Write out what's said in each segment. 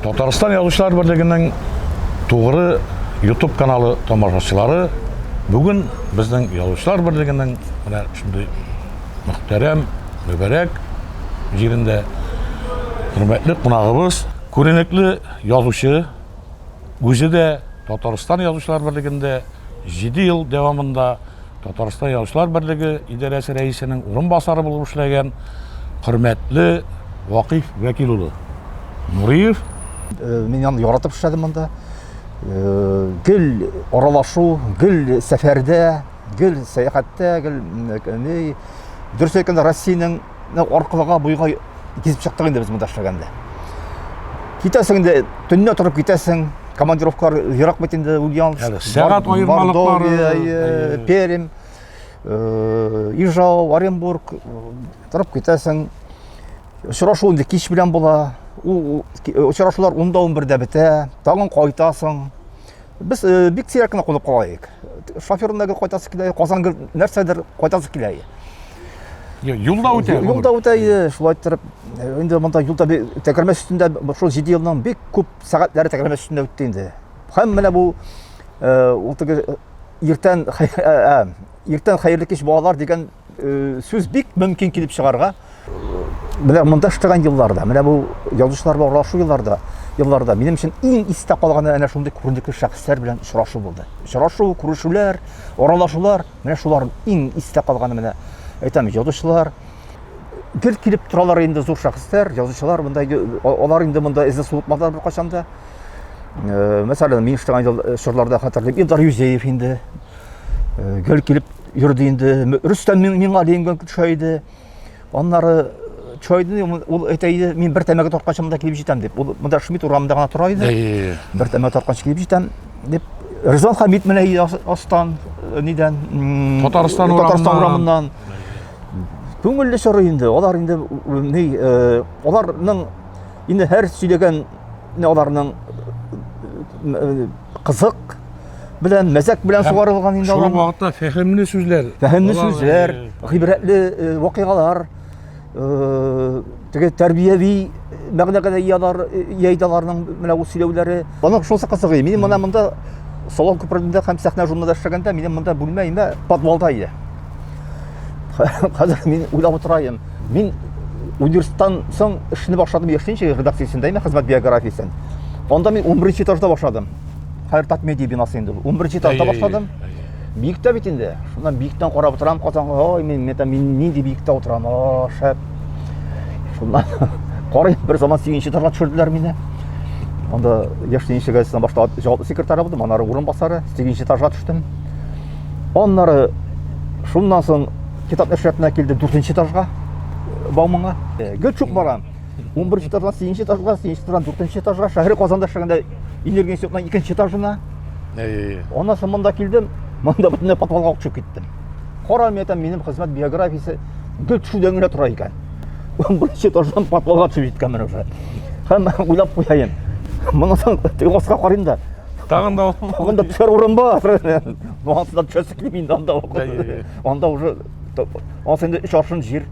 Татарстан язучылар берлегенең тугры YouTube каналы тамашачылары бүген безнең язучылар берлегенең менә шундый мөхтәрәм, мөбәрәк җирендә хөрмәтле кунагыбыз, күренекле язучы, үзе дә Татарстан язучылар берлегендә 7 ел дәвамында Татарстан Язучылар берлеге идарәсе рәисенең урынбасары булып эшләгән хөрмәтле Вакыйф Вәкил улы Нуриев. Э, мин аны яратып эшләдем монда. Э, гел аралашу, гел сәфәрдә, гел сәяхәттә, гел дөрес әйткәндә Россиянең Менә аркылыга буйга кизеп чыктык инде без монда эшләгәндә. Китәсең инде, төнне торып китәсең. Командировкалар ерак бит инде Ульяновск. Сәгать аермалыклары. Пермь, э, Ижау, Оренбург э, торып китәсең. Очрашу инде кич белән була. Ул очрашулар 10-11дә бетә. Тагын кайтасың. Без э, бик сирәк кенә кунып калаек. Шоферына гел кайтасы килә, Казан гел нәрсәдер кайтасы килә. Юлда үтә. Юлда үтә, шулай иттереп. Э, инде монда юлда тәгәрмә өстендә шул 7 елның бик күп сәгатьләре тәгәрмә өстендә үтте инде. Һәм менә бу э, ул теге иртән иртән хәерле кич балалар дигән сүз бик мөмкин килеп чыгарга. Менә монда эшләгән елларда, менә бу язучылар белән аралашу елларда, елларда минем өчен иң истә калганы әнә шундый күренекле шәхесләр белән очрашу булды. Очрашу, күрешүләр, аралашулар, менә шулар иң истә калганы менә әйтәм, язучылар, гел килеп торалар инде зур шәхесләр, язучылар монда алар инде монда эзне суытмадылар беркайчан да. Э, мәсәлән, мин эшләгән э, чорларда хәтерлим, Илдар Юзеев инде э, гел килеп йөрде инде. Рөстәм Миңгалиев гел төшә иде. Аннары чайды ул әйтә иде, мин бер тәмәке тартканчымда килеп җитәм дип. Ул монда Шмидт урамында гына тора иде. Бер тәмәке тартканчы килеп җитәм дип. Ризан Хамид менә иде астан, э, нидән? Татарстан урамыннан. Күңелле чоры инде. Алар инде ни, э, аларның Инде һәр сөйләгән аларның кызык белән, мәзәк белән сугарылган инде алар. Шул вакытта фәһемле сүзләр. Фәһемле сүзләр, гыйбрәтле вакыйгалар, теге тәрбияви мәгънәгә дә иялар, яйдаларның менә ул сөйләүләре. Аның шусы кызык иде. Минем менә монда салон күперендә һәм сәхнә журналында эшләгәндә, минем монда бүлмә инде подвалда иде. Хәзер мин уйлап утырайым. Мин университеттан соң эшне башладым яшенче редакциясендә имә хезмәт биографиясен. Анда мин 11 этажда башладым. Хәер тат медиа бинасы инде. 11 этажда башладым. Биектә бит инде. Шуннан биектән карап утырам Казанга. Ой, мин мета мин нинди биектә утырам. О, шәп. Шуннан карый бер заман 8 этажга төшерделәр мине. Анда яшенче газетадан башта җаваплы секретарь булдым, аннары урынбасары, 8 этажга төштем. Аннары шуннан соң Китап нәшриятына килде дүртенче этажга, Бауманга. Э, гел чук барам. 11 этаждан 8 этажга, 8 этаждан 4 этажга, шәһәр Казанда шәһәрендә энергия институтының 2 этажына. Әй. Аннан соң монда килдем, монда бөтенләй подвалга төшеп киттем. Кара мәтәм минем хезмәт биографиясе гел төшүдән генә тора икән. 11 этаждан подвалга төшеп җиткән менә уже. Һәм уйлап куяйм. Моннан соң тыгызга карыйм да. Тагын да тагын да төшәр урын бар. Монда төшәсе килми инде анда. Анда уже анда инде өч аршын җир.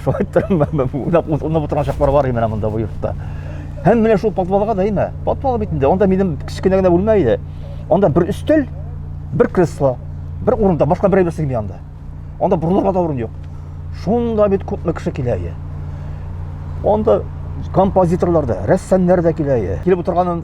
Шулай торам, уйлап утырган чаклар бар менә монда бу йортта. Һәм менә шул подвалга да име? Подвал бит инде. Анда минем кечкенә генә бүлмә иде. Анда бер өстәл, бер кресло, бер урында, башка берәү берсе килми анда. Анда борылырга да урын юк. Шунда бит күпме кеше килә иде. Анда композиторлар да, рәссамнар да килә иде. Килеп утырган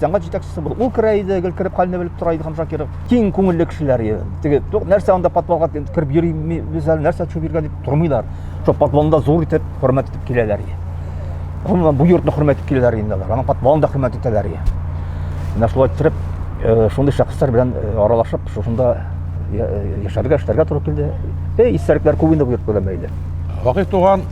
сәнгать җитәкчесе булып ул керә иде гел кереп хәлне белеп тора иде хамжан киров киң күңелле кешеләр иде теге нәрсә анда подвалга кереп йөримибез әле нәрсә төшеп йөргән дип тормыйлар шул подвалында зур итеп хөрмәт итеп киләләр иде гомумән бу йортны хөрмәт итеп киләләр инде алар аның подвалын да хөрмәт итәләр иде менә шулай иттереп э, шундый шәхесләр белән э, аралашып шушында э, яшәргә эшләргә туры килде эй истәлекләр күп инде бу йорт белән бәйле вакыйф туган